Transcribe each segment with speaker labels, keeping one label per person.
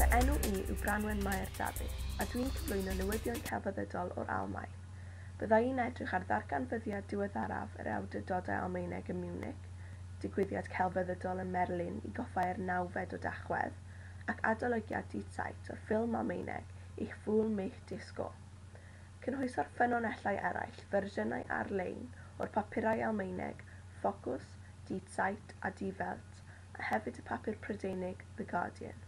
Speaker 1: Fy enw i yw Branwen Mair Dafydd, a dwi'n cyflwyno newyddion celfyddydol o'r Almaen. Bydda i'n edrych ar ddarganfyddiad diweddaraf yr Awdurdodau Almaeneg ym Munich, digwyddiad celfyddydol ym Merlin i goffáu'r nawfed o Dachwedd, ac adolygiad Die Zeit o'r ffilm Almaeneg Ich fühl mich Disco. Cynhwyso'r ffynonellau eraill fersiynau ar-lein o'r papurau Almaeneg Fokus, Die Zeit a Die Welt, a hefyd y papur Prydeinig The Guardian.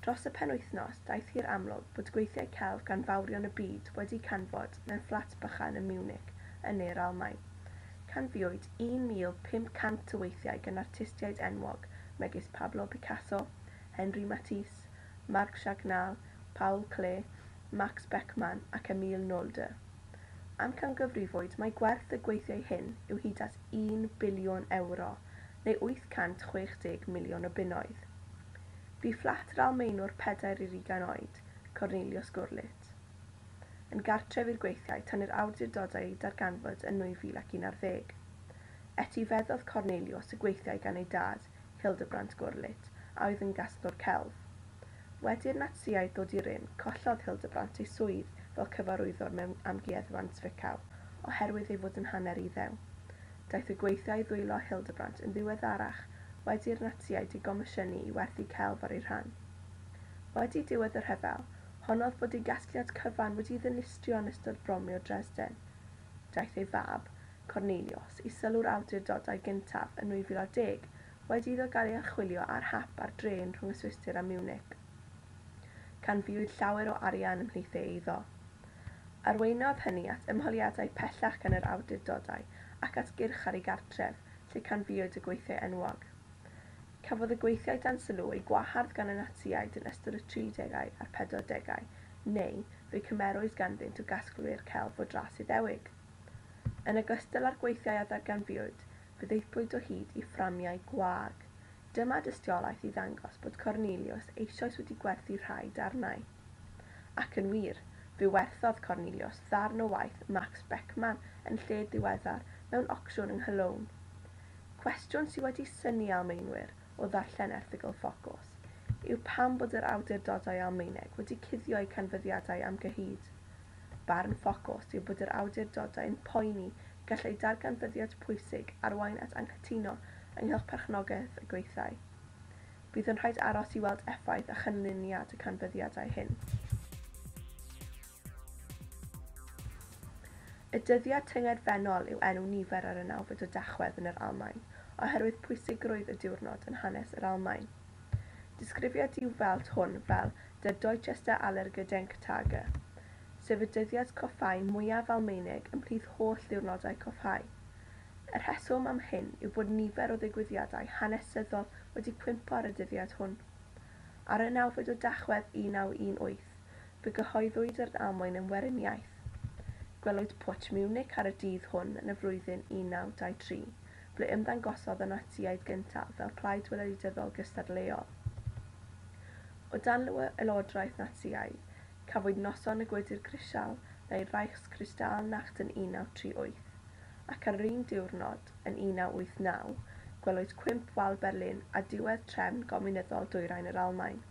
Speaker 1: Dros y penwythnos, daeth hi'r amlwg bod gweithiau celf gan fawrion y byd wedi canfod mewn fflat bychan ym Munich, yn ne'r Almaen. Canfuwyd 1,500 o weithiau gan artistiaid enwog megis Pablo Picasso, Henri Matisse, Marc Chagnalle, Paul Klee, Max Beckmann ac Emile Nolde. Amcangyfrifwyd mai gwerth y gweithiau hyn yw hyd at un biliwn ewro, neu 860 miliwn o bunnoedd. Bu fflat yr Almaenwr pedair i'r ugain oed, Cornelius Gurlitt, yn gartref i'r gweithiau tan i'r awdurdodau eu darganfod yn 2011. Etifeddodd Cornelius y gweithiau gan ei dad, Hildebrandt Gurlitt, a oedd yn gasglwr celf. Wedi i'r Natsïaid ddod i rym, collodd Hildebrandt ei swydd fel cyfarwyddwr mewn amgueddfa'n Zwickau oherwydd ei fod yn hanner Iddew. Daeth y gweithiau i ddwylo Hildebrandt yn ddiweddarach wedi i'r Natsïaid ei gomisiynu i werthu celf ar ei rhan. Wedi diwedd y rhyfel, honnodd bod ei gasgliad cyfan wedi'i ddinistrio yn ystod bromio Dresden. Daeth ei fab, Cornelius, i sylw'r awdurdodau gyntaf yn 2010, wedi iddo gael ei archwilio ar hap ar drên rhwng y Swistir a Munich. Canfuwyd llawer o arian ymhlith ei eiddo. Arweiniodd hynny at ymholiadau pellach gan yr awdurdodau ac at gyrch ar ei gartref, lle canfuwyd y gweithiau enwog. Cafodd y gweithiau dan sylw eu gwahardd gan y Natsïaid yn ystod y tridegau a'r pedwardegau, neu fe'u cymerwyd ganddynt o gasglwyr celf o dras Iddewig. Yn ogystal â'r gweithiau a ddarganfuwyd, fe ddaethlwyd o hyd i fframiau gwag, Dyma dystiolaeth i ddangos bod Corneliws eisoes wedi gwerthu rhai darnau. Ac yn wir, fe werthodd Corneliws ddarn o waith Max Beckmann yn lled ddiweddar mewn ocsiwn yng Nghologne. Cwestiwn sydd wedi synnu Almaenwyr o ddarllen erthygl Ffocws yw pam bod yr awdurdodau Almaeneg wedi cuddio'u canfyddiadau am gyhyd. Barn Ffocws yw bod yr awdurdodau'n poeni gall eu darganfyddiad pwysig arwain at anghytuno ynghylch perchnogaeth y gweithdai. Bydd yn rhaid aros i weld effaith a chynlluniad y canfyddiadau hyn. Y dyddiad tyngedfennol yw enw nifer ar y nawfed o Dachwedd yn yr Almaen, oherwydd pwysigrwydd y diwrnod yn hanes yr Almaen. Disgrifia Die Welt hwn fel Der deutscheste aller Gedenktage, sef y dyddiad coffáu mwyaf Almaenig ymhlith holl ddiwrnodau coffáu. Y rheswm am hyn yw bod nifer o ddigwyddiadau hanesyddol wedi cwympo ar y dyddiad hwn. Ar y nawfed o Dachwedd 1918, fe gyhoeddwyd yr Almaen yn weriniaeth. Gwelwyd Pwtsh Munich ar y dydd hwn yn y flwyddyn 1923, ble ymddangosodd y Natsïaid gyntaf fel plaid weledityddol gystadleuol. O dan lywodraeth Natsïaidd, cafwyd Noson y Gwydr Grisial neu Reichskristallnacht yn 1938, ac ar yr un diwrnod, yn 1989, gwelwyd Cwymp Wal Berlin a diwedd trefn gomiwnyddol Dwyrain yr Almaen.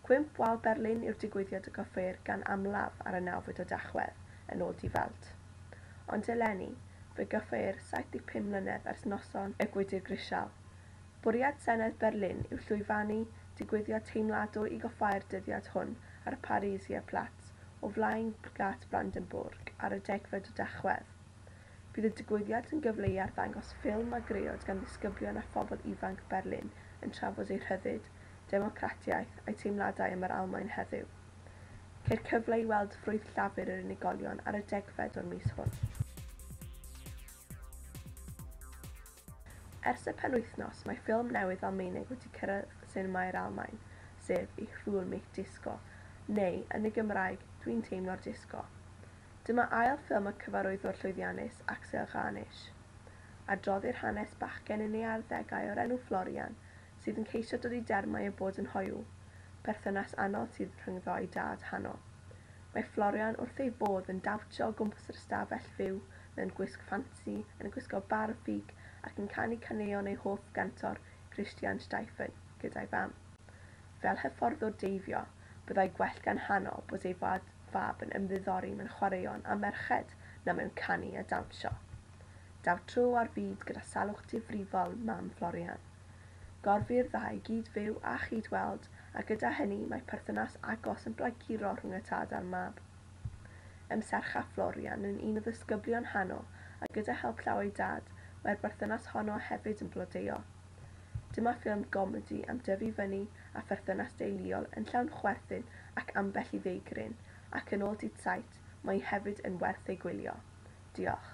Speaker 1: Cwymp Wal Berlin yw'r digwyddiad y gofeir gan amlaf ar y nawfed o Dachwedd, yn ôl Die Welt. Ond eleni, Fe gyhoeir 75 mlynedd ers noson y gwydr grisial. Bwriad Senedd Berlin yw llwyfannu digwyddiad teimladwy i goffáu'r dyddiad hwn ar y Pariser Platz o flaen Gât Brandenburg ar y degfed o Dachwedd. Bydd y digwyddiad yn gyfle i arddangos ffilm a greod gan ddisgyblion a phobl ifanc Berlin yn trafod eu rhyddid, democratiaeth, a'u teimladau am yr Almaen heddiw. Ceir cyfle i weld ffrwyth llafur yr unigolion ar y degfed o'r mis hwn. Ers y penwythnos, mae ffilm newydd Almaeneg wedi cyrraedd sinemâu'r Almaen, sef Ich fühl mich Disco, neu, yn y Gymraeg, Dwi'n teimlo'r Disgo. Dyma ail ffilm y cyfarwyddwr llwyddiannus Axel Ghanisch. Adroddir hanes bachgen yn ei arddegau o'r enw Florian, sydd yn ceisio dod i dermau â bod yn hoyw, perthynas anodd sydd rhyngddo a'i dad, Hano. Mae Florian wrth ei fodd yn dawnsio o gwmpas yr ystafell fyw mewn gwisg ffansi, yn gwisgo bar ffug ac yn canu caneuon ei hoff gantor, Christian Steifen, gyda'i fam. Fel hyfforddwr deifio, byddai gwell gan Hano bod ei fad fab yn ymddiddori mewn chwaraeon a merched na mewn canu a dawnsio. Daw tro ar fyd gyda salwch difrifol mam Florian. Gorfu'r ddau gyd-fyw a chyd-weld, a gyda hynny mae perthynas agos yn blaguro rhwng y tad a'r mab. Ym Sercha Florian yn un o ddisgyblion Hano, a gyda help llaw ei dad, mae'r berthynas honno hefyd yn blodeuo. Dyma ffilm gomedi am dyfu fyny a pherthynas deuluol yn llawn chwerthin ac ambell i feigryn, ac yn ôl Dydd Sait, mae hi hefyd yn werth ei gwylio. Diolch.